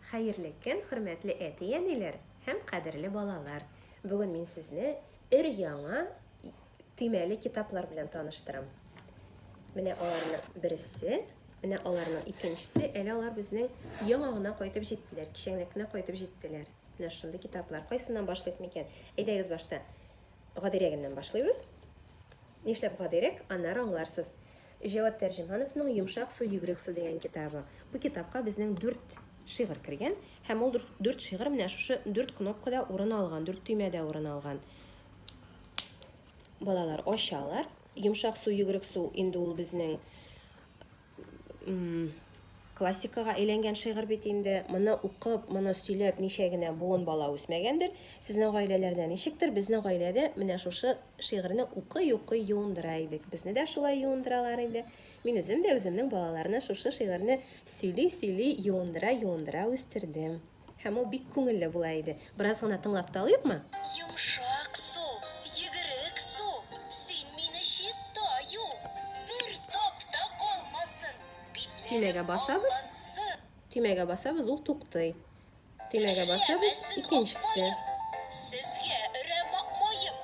Хәерле көн, хөрмәтле әти-әниләр һәм кадерле балалар! Бүген мин сезне өр-яңа төймәле китаплар белән таныштырам. Менә аларның бересе, менә аларның икенчесе, әле алар безнең яңа гына кайтып җиттеләр, кичәгенәк кенә кайтып җиттеләр. Менә шундый китаплар. Кайсыннан башлыйк микән? Әйдәгез башта гадирәгеннән башлыйбыз. Нишләп гадирәк? Аннары аңларсыз. Җәвад Тәрҗемановның Йомшак су, йөгерек су дигән китабы. Бу китапка безнең дүрт шигырь кергән һәм ул дүрт шигырь менә шушы дүрт кнопкада урын алган, дүрт төймәдә урын алган. Балалар ачалар. Йомшак су, йөгерек су инде ул безнең Классикага әйләнгән шигырь бит инде. Моны укып, моны сөйләп ничә генә буын бала үсмәгәндер. Сезнең гаиләләрдә ничектер, безнең гаиләдә менә шушы шигырьне укый-укый юындыра идек. Безне дә шулай юындыралар иде. Мин үзем дә үземнең балаларны шушы шигырьне сөйли-сөйли юындыра-юындыра үстердем. Һәм ул бик күңелле була иде. Бераз гына тыңлап та алыйкмы? Йомшак су, йөгерек су, син мине чиста ю, бер тап та калмасын, битләрем Төймәгә басабыз. Төймәгә басабыз, ул туктый. Төймәгә басабыз, икенчесе. Сезгә өрәм акмаем,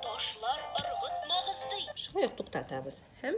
ташлар ыргытмагыз ди. Шулай ук туктатабыз һәм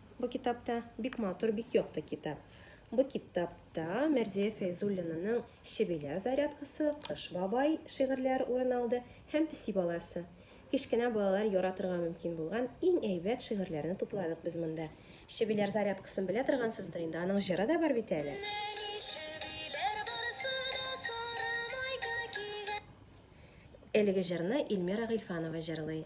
Бу китапта бик матур, бик якты китап. Бу китапта Мәрзия Фәйзуллинаның Чебиләр зарядкасы, Кыш бабай шигырьләре урын алды һәм Песи баласы. Кечкенә балалар яратырга мөмкин булган иң әйбәт шигырьләрне тупладык без монда. Чебиләр зарядкасын белә торгансыздыр инде, аның җыры да бар бит әле. Әлеге җырны Ильмира Гыйльфанова җырлый.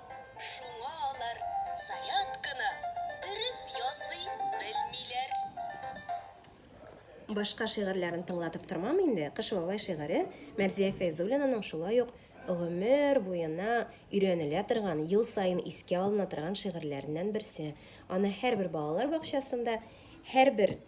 Шуңа алар зарядканы дөрес ясый белмиләр. Башка шигырьләрен тыңлатып тормам инде. Кыш бабай шигыре Мәрзия Фәйзуллинаның шулай ук гомер буена өйрәнелә торган, ел саен искә алына торган шигырьләреннән берсе. Аны һәрбер балалар бакчасында, һәрбер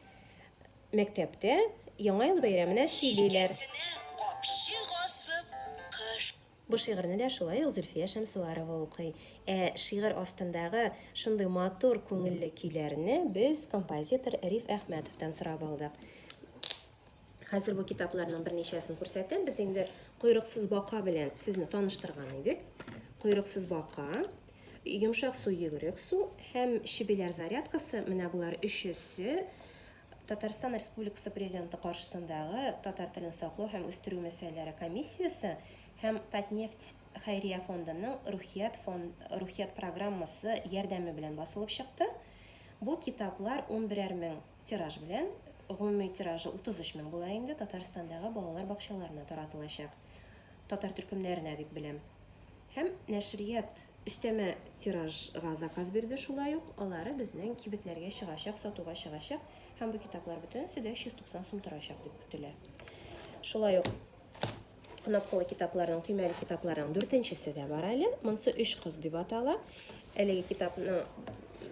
мәктәптә Яңа ел бәйрәменә сөйлиләр. Икесенә капчык асып, кыш. Бу шигырьне дә шулай ук Зөлфия Шәмсуарова укый. Ә шигырь астындагы шундый матур күңелле көйләрне без композитор Риф Әхмәтовтан сорап алдык. Хәзер бу китапларның берничәсен күрсәтәм. Без инде Койрыксыз бака белән сезне таныштырган идек. Койрыксыз бака, Йомшак су, йөгерек су һәм Чебиләр зарядкасы, менә болар өчесе Татарстан Республикасы Президенты каршысындагы Татар телен саклау һәм үстерү мәсьәләләре комиссиясе һәм Татнефть хәйрия фондының Рухият фон Рухият программасы ярдәме белән басылып чыкты. Бу китаплар унберәр мең тираж белән, гомуми тиражы 33 мең була инде, Татарстандагы балалар бакчаларына таратылачак. татар төркемнәренә дип беләм. Һәм нәшрият өстәмә тиражга заказ бирде, шулай ук алары безнең кибетләргә чыгачак, сатуга чыгачак һәм бу китаплар бөтенесе дә 390 сум торачак дип көтелә. Шулай ук кнопкалы китапларның, төймәле китапларның дүртенчесе дә бар әле. Монсы өч кыз дип атала. Әлеге китапны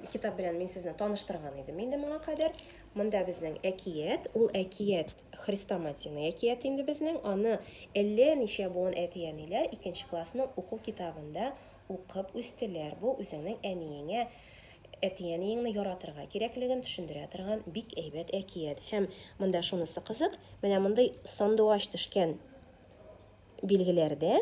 китап белән мин сезне таныштырган идем инде моңа кадәр. Монда безнең әкият, ул әкият Хрестоматийный әкият инде безнең. Аны әллә ничә буын әти-әниләр икенче классның уку китабында укып үстеләр. Бу үзеңнең әниеңә, әти-әниеңне яратырга кирәклеген төшендерә торган бик әйбәт әкият. Һәм монда шунысы кызык, менә мондый сандугач төшкән билгеләрдә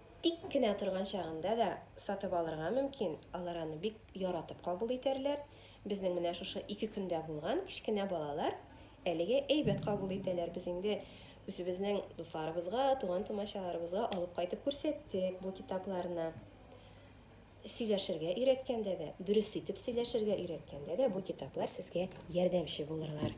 Тик кенә торган чагында да сатып алырга мөмкин, алар аны бик яратып кабул итәрләр. Безнең менә шушы ике көндә булган кечкенә балалар әлегә әйбәт кабул итәләр. Без инде үзебезнең дусларыбызга, туган-тумачаларыбызга алып кайтып күрсәттек бу китапларны. Сөйләшергә өйрәткәндә дә, дөрес итеп сөйләшергә өйрәткәндә дә бу китаплар сезгә ярдәмче булырлар.